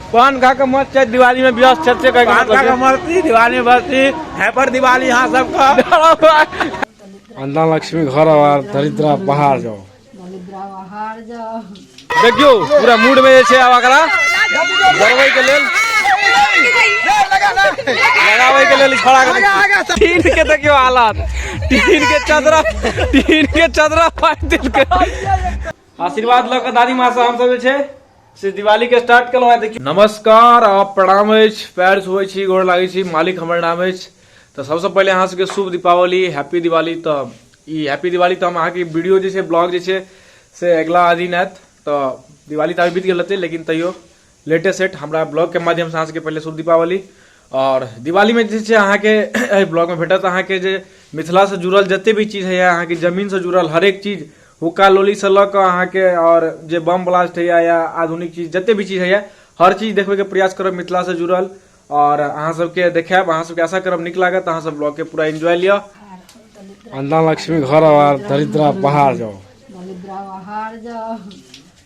पान खा के मत छै दिवाली में व्यस्त छै से कहके मतलब छै मस्ती दिवाली में मस्ती हैपर दिवाली यहाँ सबके अन्ना लक्ष्मी घर आवार दरिद्रा बाहर जाओ देखियो पूरा मूड में जे छै आब एकरा गरबै के लेल लगाबै के लेल खड़ा कर टीन के देखियो हालत टीन के चदरा टीन के चदरा फाटि देलकै आशीर्वाद लऽ कऽ दादी माँ से हमसब जे छै से दिवाली के स्टार्ट केलहुँ है देखियौ नमस्कार आ प्रणाम अछि पैर छुए छी गोर लागै छी मालिक हमर नाम अछि तऽ सबसँ पहिले अहाँ सबके शुभ दीपावली हैप्पी दिवाली तऽ ई हैप्पी दिवाली तऽ हम अहाँके वीडियो जे छै ब्लॉग जे छै से अगिला दिन आयत तऽ दिवाली तऽ अभी बीत गेल रहतै लेकिन तैयो लेटेस्ट सेट हमरा ब्लॉग के माध्यम से अहाँ सबके पहिले शुभ दीपावली आओर दिवालीमे जे छै अहाँके एहि ब्लॉगमे भेटत अहाँके जे मिथिलासँ जुड़ल जतेक भी चीज होइए अहाँके जमीनसँ जुड़ल हरेक चीज हुक्का लोलीसँ लऽ कऽ अहाँके आओर जे बम ब्लास्ट होइए या आधुनिक चीज जतेक भी चीज होइए हर चीज देखबैके प्रयास करब मिथिलासँ जुड़ल आओर अहाँ सबके देखायब अहाँ सबके आशा करब नीक लागत अहाँ सब ब्लॉगके पूरा एंजॉय लिअ अन्ना लक्ष्मी घर आवार दरिद्रा बाहर जाओ दलिद्रा बाहर जाओ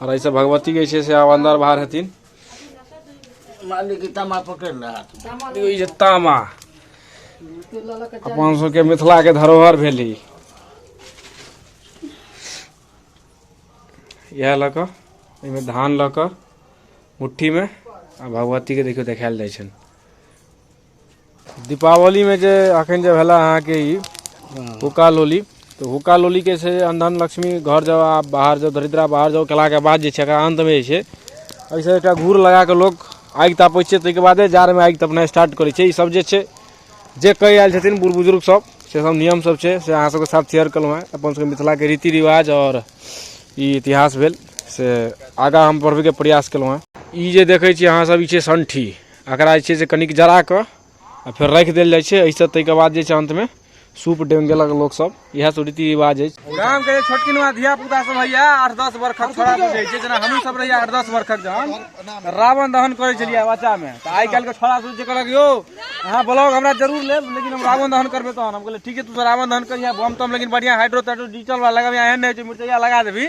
और ऐसे भगवती के ऐसे से आब अंदर बाहर हथिन मालिक के तमा पकड़ रहा था देखियौ ई जे तामा अपन सबके मिथिला के धरोहर भेली इएह लऽ कऽ एहिमे धान लऽ कऽ मुट्ठीमे आ भगवतीके देखियौ देखायल जाइ छनि दीपावलीमे जे अखन जे भेला अहाँके ई हुक्का लोली तऽ हुक्का लोलीके छै अन्धन लक्ष्मी घर जाउ आ बाहर जाउ दरिद्रा बाहर जाउ केलाके बाद जे छै एकरा अन्तमे जे छै एहिसँ एकटा घूर लगा कऽ लोक आगि तापै छै ताहिके बादे जाड़मे आगि तपनाइ स्टार्ट करै छै ईसभ जे छै जे कहि आयल छथिन बूढ़ बुजुर्गसभ से सभ नियमसभ छै से अहाँ सभके साथ शेयर केलहुँ हेँ अपन सभके मिथिलाके रीति रिवाज आओर ई इतिहास भेल से आगाँ हम बढ़बैके प्रयास केलहुँ हेँ ई जे देखै छियै अहाँसभ ई छियै सण्ठी एकरा जे छै से कनिक जरा कऽ आ फेर राखि देल जाइ छै एहिसँ ताहिके बाद जे छै अन्तमे सूप डेंग गेलक लोकसभ इएह सब रीति रिवाज अछि गाम के छोटकिनवा धिया पुता सब होइया आठ दस वर्षक छोड़ा सब होइ छै जेना हमहूँ सब रहिया आठ दस वर्षक जहन तऽ रावण दहन करै छलियै बच्चा मे तऽ आइ काल्हि के छोड़ा सब जे कहलक यौ अहाँ ब्लॉग हमरा जरूर लेब लेकिन हम रावण दहन करबै तहन हम कहलियै ठीक छै तू सब रावण दहन करिया बम तम लेकिन बढ़िया हाइड्रो ताइड्रो डिजिटल वाला लगाबिया एहन नहि होइ छै मिर्चैया लगा देबही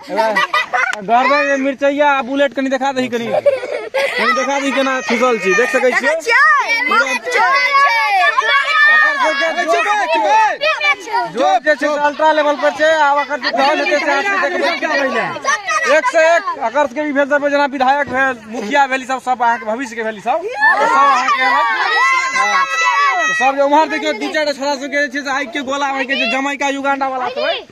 गरदन में मिर्चैया आ बुलेट कनी देखा दही कनी कनी देखा दही केना ठुकल छी देख सकै छियै जो के छै अल्ट्रा लेवल पर छै आ ओकर जे धन हेतै से आदमी देखबै की पहिले एक से एक अगर के भी भेल दर जेना विधायक भेल मुखिया भेली सब सब अहाँके भविष्य के भेली सब तऽ सब अहाँके हँ। तऽ सब जे उम्हर देखियो दू चारि टा छोरा सबके जे छै से आगि के गोला आगि के जे जमैका युगांडा वाला सब है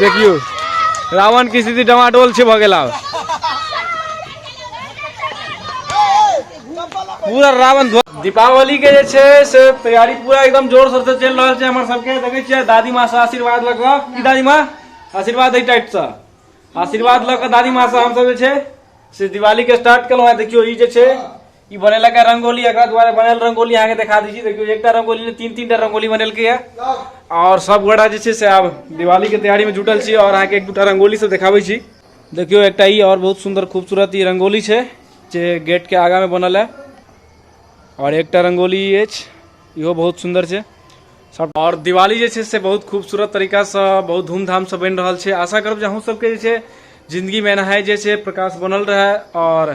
देखियो रावण की स्थिति डमाडोल से भऽ गेल आब पूरा रावण ध्वज दीपावली के जे छै से तैयारी पूरा एकदम जोर शोर से चलि रहल छै हमर सबके देखै छियै दादी माँ से आशीर्वाद लऽ कऽ की दादी माँ आशीर्वाद एहि टाइट से आशीर्वाद लऽ कऽ दादी माँ से हमसब जे छै से दिवाली के स्टार्ट केलहुँ हेँ देखियौ ई जे छै ई बनेलक है रंगोली एकरा द्वारा बनल रंगोली अहाँके देखा दै छी देखियौ एकटा रंगोली ने तीन तीन टा रंगोली बनेलकै है आओर सब गोटा जे छै से आब दिवालीके तैयारीमे जुटल छी आओर अहाँके एक दूटा रंगोली सब देखाबै छी देखियौ एकटा ई आओर बहुत सुन्दर खूबसूरत ई रंगोली छै जे गेटके आगामे बनल है आओर एकटा रंगोली ई अछि इहो बहुत सुन्दर छै सब आओर दिवाली जे छै से बहुत खूबसूरत तरीकासँ बहुत धूमधामसँ बनि रहल छै आशा करब जे अहूँ सबके जे छै जिन्दगीमे एनाहे जे छै प्रकाश बनल रहए आओर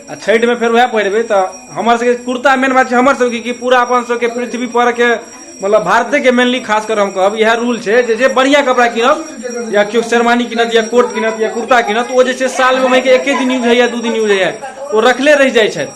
आ छठिमे फेर वएह पहिरबै तऽ हमर सबके कुर्ता मेन बात छै हमर सबके कि पूरा अपन सबके पृथ्वी पर के मतलब भारते के मेनली खास कर हम कहब इएह रूल छै जे जे बढ़िया कपड़ा किनब या केओ शेरवानी किनत या कोट किनत या कुर्ता किनत ओ जे छै सालमे ओहिके एके दिन यूज होइए दू दिन यूज होइए ओ रखले रहि जाइ छै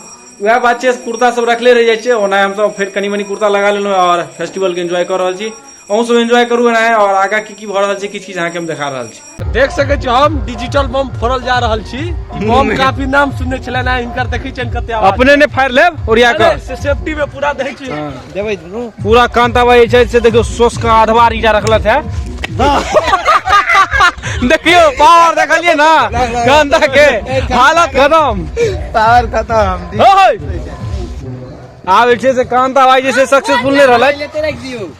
वएह बात छै कुर्ता सब रखले रहि जाइ छै ओना हमसब फेर कनी मनी कुर्ता लगा लेलहुँ और फेस्टिवल के एंजॉय कर रहल छी अहूँ सब एंजॉय करू एना और आगा की की भऽ रहल छै किछु किछु अहाँके हम देखा रहल छी देख सकै छी हम डिजिटल बम फोड़ल जा रहल छी ई बम काफी नाम सुनने छलै ना हिनकर देखै छियनि कते आवाज अपने ने फाड़ि लेब ओरिया कऽ अरे, से सेफ्टी में पूरा दै छी देबै दुनू पूरा कांत आबा जे छै से देखियौ सोस के आधवा रीटा रखलत है देखियौ पावर देखलियै ना कांता के हालत खतम पावर खतम ओए आब जे छै से कांता भाई जे छै सक्सेसफुल नहि रहलै लेते राखि दियौ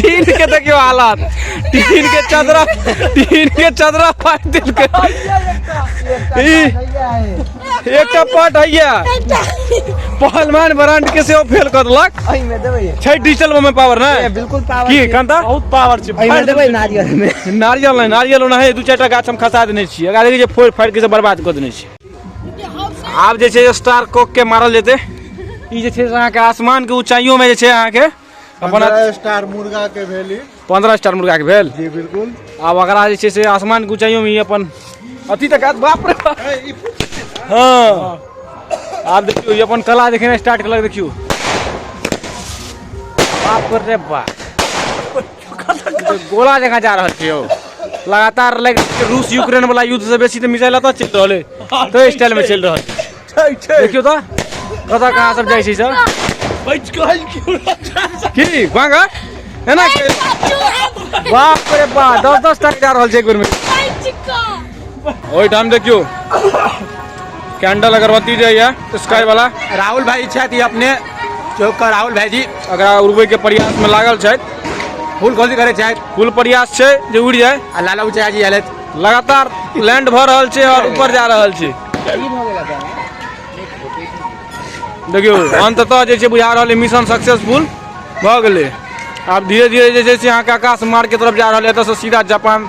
टीन के देखियो हालत टीन के चदरा टीन के चदरा फाट दिल के ई एकटा पट हैया पहलवान ब्रांड के से ओ फेल कर देलक अही में देबै छै डिजिटल में पावर ना ए, बिल्कुल पावर की कांता बहुत पावर छै अही में देबै नारियल में नारियल नहीं नारियल ओना है दू चार टा गाछ हम खसा देने छियै अगर जे फोड़ फाड़ के से बर्बाद कर देने छियै आब जे छै स्टार कोक के मारल जेतै ई जे छै से अहाँके आसमान के ऊंचाइयों में जे छै अहाँके अपन पंद्रह स्टार मुर्गा के भेली पंद्रह स्टार मुर्गा के भेल जी बिल्कुल आब अगरा जे छै से आसमान के ऊंचाइयों में ही अपन अति तक आत- बाप रे बाप। हाँ आब देखियो ई अपन कला देखेना स्टार्ट केलक देखियो बाप रे बाप गोला जगह जा रहल छियौ लगातार लागि रूस यूक्रेन वाला युद्ध से बेसी तो मिसाइल अतः चल रहल है तो स्टाइल में चल रहल छै छै देखियो तो कतऽ कहाँ सब जाइ छै सब बच गइल क्यों की गाँगा है ना बाप रे बाप दस दस टाइम जा रहल छै एक बेर में ओहि ठाम देखियो कैंडल अगरबत्ती जे यऽ स्काई वाला राहुल भाई छथि ई अपने चौक का राहुल भाई जी एकरा उड़बै के प्रयास में लागल छथि फूल खोजी करे छथि कुल प्रयास छै जे उड़ि जाय आ लाला उचाया जी आयलथि लगातार लैंड भऽ रहल छै और ऊपर जा रहल छै देखियो अंततः जे छै बुझा रहल है मिशन सक्सेसफुल भऽ गेलै आब धीरे धीरे जे छै से अहाँके आकाश मार्ग के तरफ जा रहल है एतऽ से सीधा जापान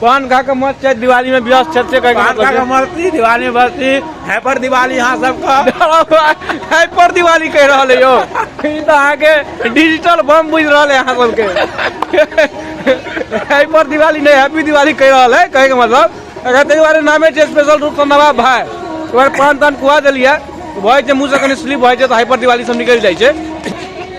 पान खा के मत छै दिवाली में व्यस्त छथि से कहै पान खा के मस्ती दिवाली में मस्ती हैपर दिवाली अहाँ सबके हाइपर दिवाली कहि रहल है यौ ई तऽ अहाँके डिजिटल बम बुझि रहल है अहाँ सबके हाइपर दिवाली नहि हैप्पी दिवाली कहि रहल है कहैके मतलब अगर ताहि दुआरे नामे छै स्पेशल रूपसँ नवाब भाय ओहि दुआरे पान तान खुआ देलियै भऽ जाइ छै मुँहसँ कनि स्लिप भऽ जाइ छै तऽ हाइपर दिवाली सब निकलि जाइ छै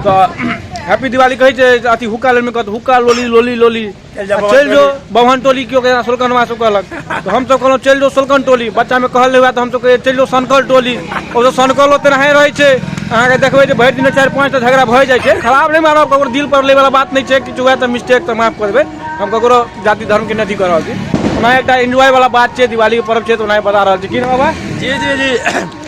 तऽ हैप्पी दिवाली कहै छै जे अथी हुक्का लेमे कहत हुक्का लोली लोली लोली चलि जाउ आ चलि जो बभन टोली केओ कहै सोलकनवा सब कहलक तऽ हमसब कहलहुँ चलि जो सोलकन टोली बच्चामे कहल नहि हुए तऽ हमसब कहै चलि जो सनकल टोली ओ तऽ सनकल ओते नहाए रहै छै अहाँके देखबै जे भरि दिनमे चारि पाँच टा झगड़ा भए जाइ छै खराब नहि मानब ककरो दिल पर लैवला बात नहि छै किछु हुए तऽ मिस्टेक तऽ माफ कऽ देबै हम ककरो जाति धर्मके नहि अथी कऽ रहल छी ओना एकटा एन्जॉय वाला बात छै दिवालीके पर्व छै तऽ ओना बता रहल छी की रे बाबा जी जी जी